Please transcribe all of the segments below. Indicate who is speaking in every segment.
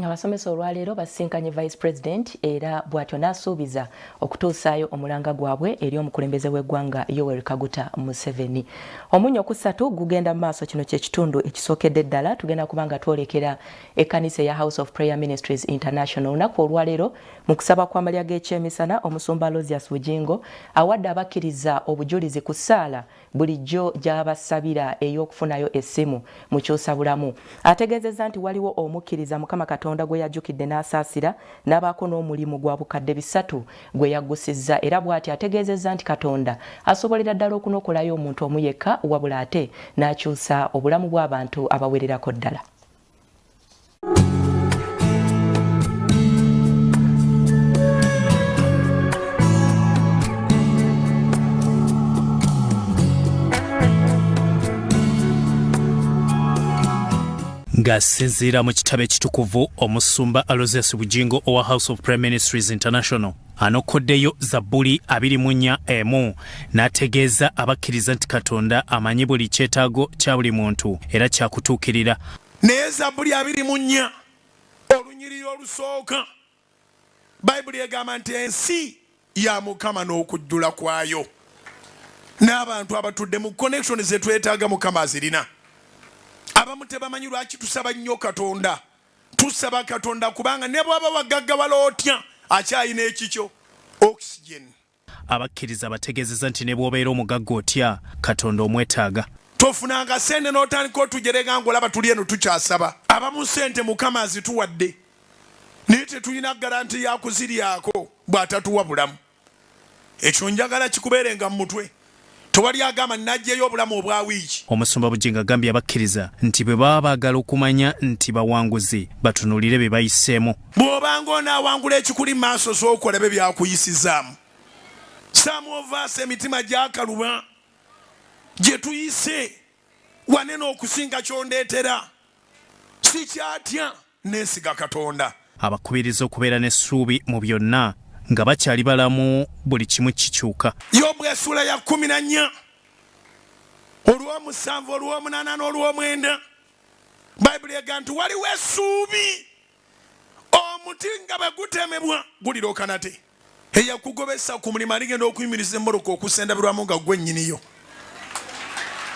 Speaker 1: Abasomesa olwaleero basisinkanye Vice President era bw'atyo n'asuubiza okutuusaayo omulanga gwabwe eri omukulembeze w'eggwanga Yoweri Kaguta Museveni. Omunyo ku ssatu gugenda mu maaso. Kino kye kitundu ekisookedde ddala. Tugenda kuba nga twolekera ekkanisa eya House of Prayer Ministries International olunaku olwaleero mu kusaba kw'amalya g'ekyemisana omusumba Lozius Bugingo awadde abakkiriza obujulizi ku ssaala bulijjo gy'abasabira ey'okufunayo essimu mu Kyusabulamu. Ategeezezza nti waliwo omukkiriza Mukama Katonda gwe yajjukidde n'asaasira n'abaako n'omulimu gwa bukadde bisatu gwe yaggusizza era bw'ati ategeezezza nti Katonda asobolera ddala okunokolayo omuntu omu yekka wabula ate n'akyusa obulamu bw'abantu abawererako ddala.
Speaker 2: ng'asinziira mu kitabo ekitukuvu omusumba alosius bugingo owa house of prime ministries international anokoddeyo zabbuli abiri mu nnya emu n'ategeeza abakkiriza nti katonda amanyi buli kyetaago kya buli muntu era kyakutuukirira naye zabbuli
Speaker 3: abiri mu nnya olunyiriri olusooka bayibuli egamba nti ensi ya mukama n'okujjula kwayo n'abantu abatudde mu connection zetwetaaga mukama azirina abamu tebamanyi lwaki tusaba nnyo katonda Tusaba Katonda kubanga ne bwaba wagaggawala otya akyalina ekikyo oxygen. Abakkiriza
Speaker 2: bategeezeza nti ne bw'obeera omugagga otya Katonda omwetaaga. Tofunanga sente
Speaker 3: n'otandika otujerega ng'olaba tuli eno tukyasaba. Abamu sente Mukama azituwadde naye tetulina garanti ya kuziryako bw'atatuwa bulamu. Ekyo njagala kikubeerenga mu mutwe. Tewali agamba najjeyo obulamu obwa wiiki. Omusumba Bujingo agambye
Speaker 2: abakkiriza nti bwe baba baagala okumanya nti bawanguzi batunuulire bye bayiseemu. Bw'obanga onaawangula
Speaker 3: ekikuli mu maaso sooka olabe byakuyisizaamu. Some of us emitima gyakaluba gye tuyise wanene okusinga ky'ondeetera. Sikyatya. Nneesiga Katonda. Abakubiriza okubeera
Speaker 2: n'essuubi mu byonna. Nga bakyali balamu, buli kimu kikyuka. Yobu essuula ya
Speaker 3: kkumi na nnya olw'omusanvu olw'omunaana n'olw'omwenda bayibuli ega nti waliwo essuubi omuti nga bwe gutemebwa gulirooka nate. eyakugobesa ku mulimu aligenda okuyimiriza emmoroka okusendabirwamu nga gwe nnyiniyo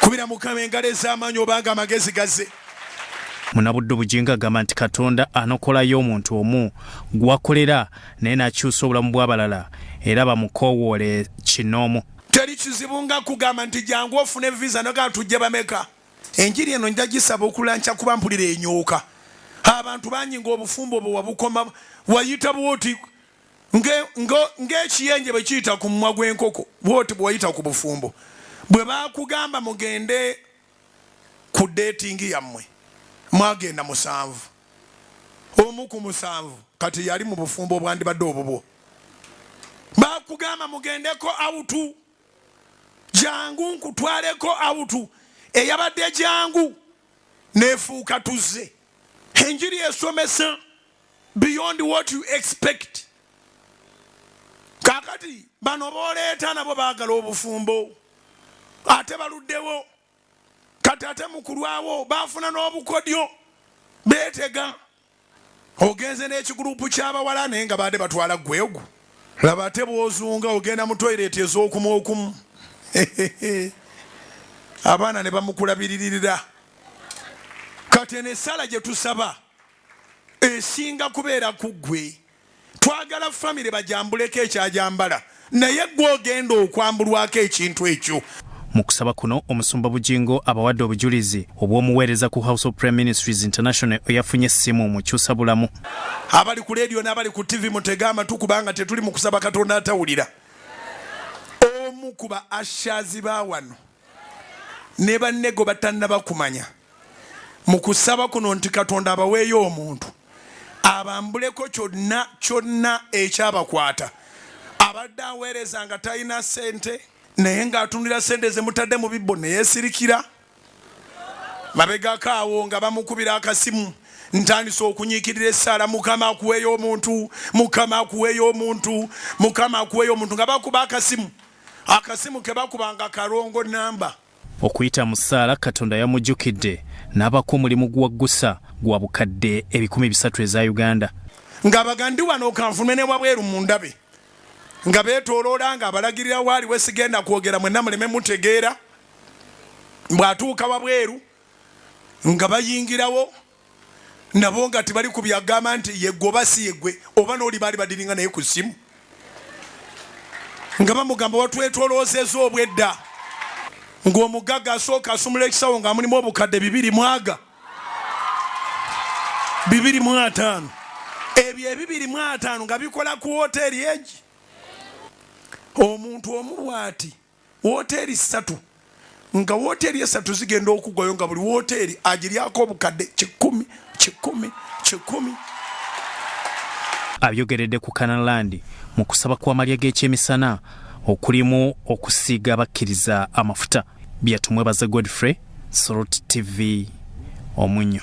Speaker 3: kubira mukama engalo ez'amaanyi obanga amagezi gaze munabudde
Speaker 2: obugingo agamba nti katonda anokolayo omuntu omu gwakolera naye nakyusa obulamu bw'abalala era bamukowoole kinoomu teri kizibu
Speaker 3: nga kugamba nti jangu ofune visa nogaa tujje bameka enjiri eno nja gisaba okulanca kuba mpulira enyooka abantu bangi ngaobufumbo bwe wabukoma wayita bwoti ng'ekiyenje bwe kiyita ku mumwa gw'enkoko bwoti bwe wayita ku bufumbo bwe baakugamba mugende ku deetingi yammwe mwagenda musanvu omu ku musanvu kati yali mu bufumbo obwandibadde obubwo baakugamba mugendeko awutu jangu nkutwaleko awutu eyabadde jangu nefuuka tuzze enjiri esomesa beyond what you expect kakati bano boleeta nabo bagala obufumbo ate baluddewo kati ate mukulwawo bafuna n'obukodyo betega ogenze n'ekigulupu ky'abawala naye nga baade batwala gwegu laba ate bwozunga ogenda mu toyireti ez'okumu okumu abaana ne bamukulabiririra kati eno essala gye tusaba esinga kubeera ku ggwe twagala famire bajambuleko ekyajambala naye gwe ogenda okwambulwako ekintu ekyo mu kusaba kuno
Speaker 2: omusumba bugingo abawadde obujulizi obw'omuweereza ku house of prime ministries international eyafunye essimu mu kyusa bulamu abali ku
Speaker 3: leediyo n'abali ku ttivi mutege amatu kubanga tetuli mu kusaba katonda atawulira omu ku ba ashazi ba wano ne bannego batannabakumanya mu kusaba kuno nti katonda abaweeyo omuntu abambuleko kyonna kyonna ekyabakwata abadde aweereza nga talina sente naye ng'atundira sente zemutadde mu bibbo neyesirikira mabegako awo nga bamukubira akasimu ntandise okunyikirira esaala mukama akuweeyo omuntu mukama akuweeyo omuntu mukama akuweeyo omuntu nga bakuba akasimu akasimu kebakubanga kalongo namba
Speaker 2: Okuyita mu
Speaker 3: ssaala
Speaker 2: Katonda yamujjukidde n'abaako
Speaker 3: omulimu
Speaker 2: gwaggusa gwa bukadde ebikumi bisatu eza Uganda. Ng'abagandi
Speaker 3: wano kanfunwe ne wabweru mu ndabe nga beetooloola nga abalagirira waali we sigenda kwogera mwenna muleme mutegeera bw'atuuka wabweru nga bayingirawo. nabo nga tebali ku byagamba nti yegwe oba si yegwe oba n'oli baali badiringa naye ku ssimu nga bamugamba watwetoloozeza obwedda ng'omugagga asooka asumula ekisawo nga mulimu obukadde bibiri mwaga bibiri mu ataano ebyo ebibiri mu ataano nga bikola ku woteeri egi omuntu omu bwati wooteeri ssatu nga wooteeri esatu zigenda okugwayo nga buli wooteeri agiryako obukadde kikumi kikumi kikumi
Speaker 2: abyogeredde ku kanalandi mu kusaba kw'amalya g'ekyemisana okulimu okusiiga abakkiriza amafuta byatumwe baze godfrey sorot tv omunyo